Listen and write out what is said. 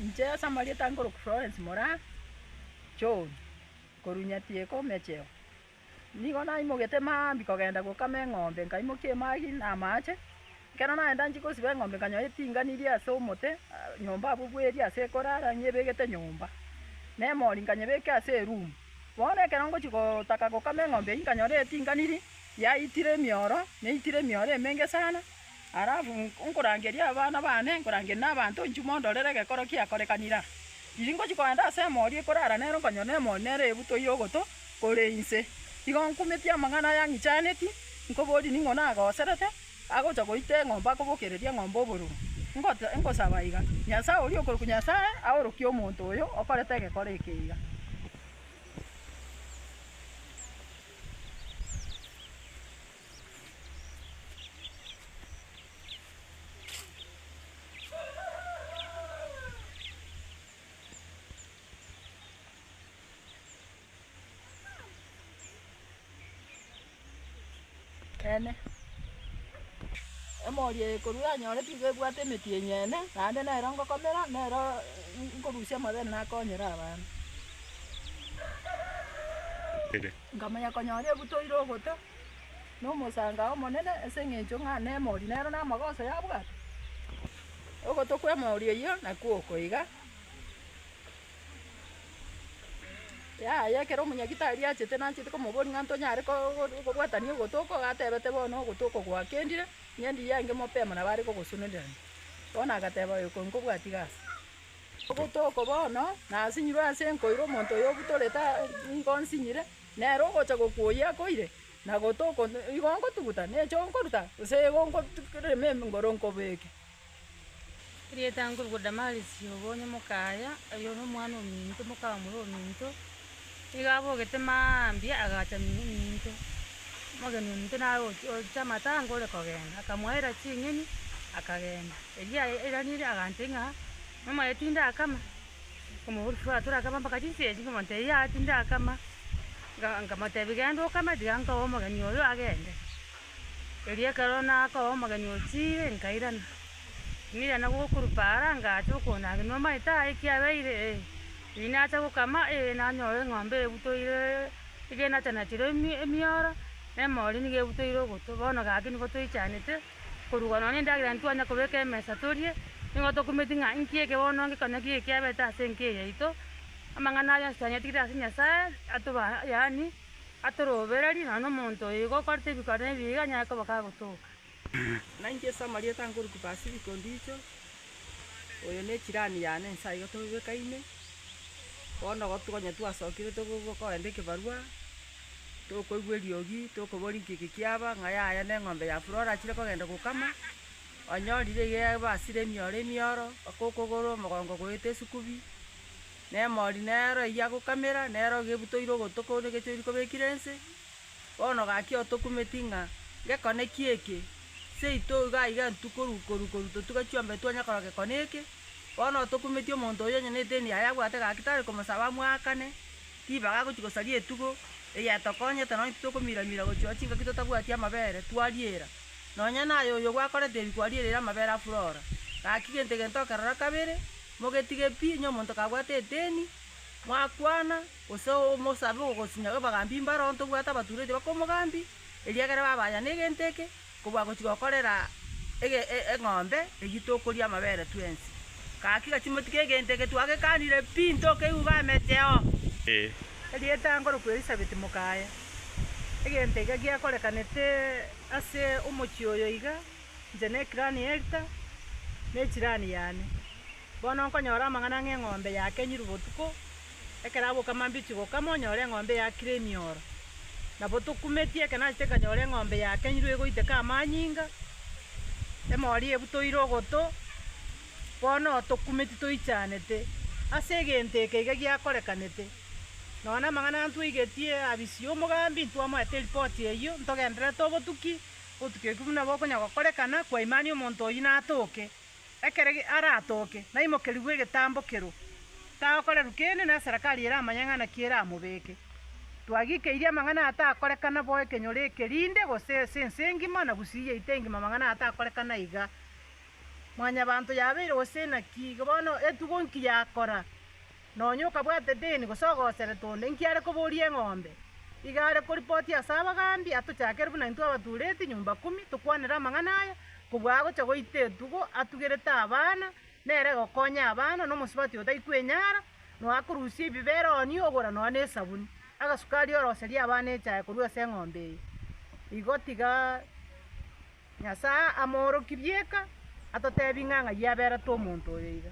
Inche ase amarieta ange korokwa Florence Moraa John, korwa Nyatieko Omecheo. Nigo naimogete maambia kogenda gokama eng'ombe, nkaimokia emagi na amache, ekero nagenda nchia gosiba eng'ombe nkanyora etingani eri ase omote, nyomba abwo bweeri ase ekorara nyebegete nyomba, na emori nkanyebeka ase eroom. Bono ekero ngochia gotaka gokama eng'ombe eywo nkanyora etinganiri yaitire emioro, neitire emioro emenge sana. Alafu nkorangeria abana baane, nkorangerie na abanto inchuo mondorere egekoro kiakorekanire aa. Riria ngochia kogenda ase emori ekorara nere nkonyora emori nere ebutwa ya ogoto kore inse. Igo nkumetie amang'ana aya ang'ichaneti, nkoborie ning'o nagoserete, agocha goita eng'ombe akobokereria eng'ombe obororo. Ngote ngosaba iga, Nyasae oria okorokwa Nyasae, aorokie omonto oyo okorete egekoro eke iga. Ekeene, emori eye korwa yanyorete nigo ebwate emeti enyene, naende nero ngokomera, nero nkorusia amabere nakonyere abanto. Nkamanya konyora ebutoire ogoto. Nomosangao omonene ase engencho ng'a nemori nero namagoso yabwate. Ogoto kwemori eyio nakwo oko iga. Yaya ekero omunyagitari achete nachete komoboria ng'a ntonyare kobwatania ogoto oko agatebete bono ogoto oko gwakendire ng'ende iga enge mapema nabo are kogosunenerania. Bono agateba oyo ko nkobwatia gasi. Ogoto oko bono nasinyirwe ase enkoiro omonto oyo obutorete ngonsinyire. Nere ogocha gokwa oyio akoire, na gotoko igo ngotuguta, ne echo nkoruta, gose igo nkorema engoro nkobeeke. Erieta nkorokwa Damarisi obo onye mokaya, oyo nomwana ominto, mokaba moria ominto, nigo abogete mambia agacha minto, omogeni ominto naye ochi ocha amatanga ore kogenda, akamoera ching'eni akagenda. Erio aye airaneria agantebi ng'a, Mama aya tinde akama. Omoruoti torakama mpaka chinsa echi, ng'omonto eyio aa tindakama, nkamotebia genda okame, tiga nkoe omogeni oyo agende. Erio ekero nakoa omogeni otiire, nkairana, nirana gokurupa ara ngacha okona ake nomaete aa ekiabeire ee, riria nacha gokama ee nanyora eng'ombe ebutoire iga enachanachire emi- emioro, na emori niga ebutoire ogoto, bono gaki nigo toichanete. Korwa nonya nendagera ntwanya kobeka emesa torie, nigo tokumeti ng'a inki eke bono ngekonye ki ekiabete ase enka eye yaito. Amang'ana ayio onsi twanyetigete ase Nyasae, atoba yaani atorobererie nonya nomonto oyo igo okorete ebikaro na ebibe iga anyare koba kagotoka. Na inche ase amarieta nkoruta Pasifiko Ndicho, oyo ne chirani yane inse aiga tobebekaine, bono igo togonywa twasokire togokoenda ekebarua. Tokoigwa eriogi, tokoboria nki eke kiaba, ng'a yaya neng'ombe ya Flora achire kogenda gokama, onyorire iga ebasire emioro emioro, mpaka okogoro, omogongo goeta esukubi, na emori nero eyio agokamera, nero iga ebutoire ogotwe korwa egecho oria kobekire nse, bono gaki otokumeti ng'a gekone ki eke, seito iga iga ntwe koru koru koru totuga chiombe twanya korora gekone eke, bono otokumeti omonto oyio onye ne eteni yaye abwate gaki tari komosaba amwakane. Tibaga gochia gosaria etugo eyetokonyete nonya titokomira-mira gochia chingaki totabwati amabere twariera. Nonya naye oyo gwakorete ebi kwariereire amabere afurora. Gaki gento egento okerora kabere, mogetige pi, onye omonto kabwate edeni, mwakwana, gose omosabe ogogosinya abagambi mbaro, ntobwate abatureti bakomogambi, eriagera babaaya negento eke, Kobua gochia gokorera eng'ombe eyio tokoria amabere twensi. Gaki gati motige egento eke twagekanire pi, ntokeigwe iga ameteo. Erieta ngorokwe Elisabeti mokaye. Egento iga giakorekanete ase omochie oyo iga, inche ne ekirani y'Elta, ne echirani yane. Bono nkonyora amang'ana ng'a eng'ombe yakenyirwe botuko. Ekero aboka mambiche gokama onyore eng'ombe eyakire emioro. Nabo tokumetie ekero nachete nkanyora eng'ombe yakenyirwe egoiteka amanyinga, emori ebutoire ogoto, bono tokumeti toichanete. Ase egento eke iga giakorekanete, nonye na amang'ana ntwaigetie abisi omogambi ntwamoete eripoti eyio ntogendererete obotuki, obotuki oki buna bokonya gokorekana kwaimani omonto oyio natoke. Ekero aratooke, naimokerigwe egetambo kero, tagokorerwa kende, na eserekari eramanye ng'ana ki eramobeeke. Twagikeirie amang'ana aya takorekana bo ekenyoro eke rinde, gose ase ense engima, na gusii yaito engima amang'ana aya takorekana iga. Mwanyabaanto yabeire gose inaki, iga bono etugo nki yakora? Nonya okabwata edeni gose ogoseretwa onde inki are koboria eng'ombe, iga are koripoti ase abagaambi, atochakere buna intwe abatuureti nyomba kumi tokwanere amang'ana aya, kobua agocha goita etugo atugerete abana, nere gokonya abana, nomosubati oyo taikwenyara, nonya akorusia ebibe ere onio ogora nonya nesabuni, agasukari oroserie abana echae korwa ase eng'ombe eye. Igo tiga. Nyasae amooroki rieka atoteebie ng'a ng'ai aberete omonto oyo iga.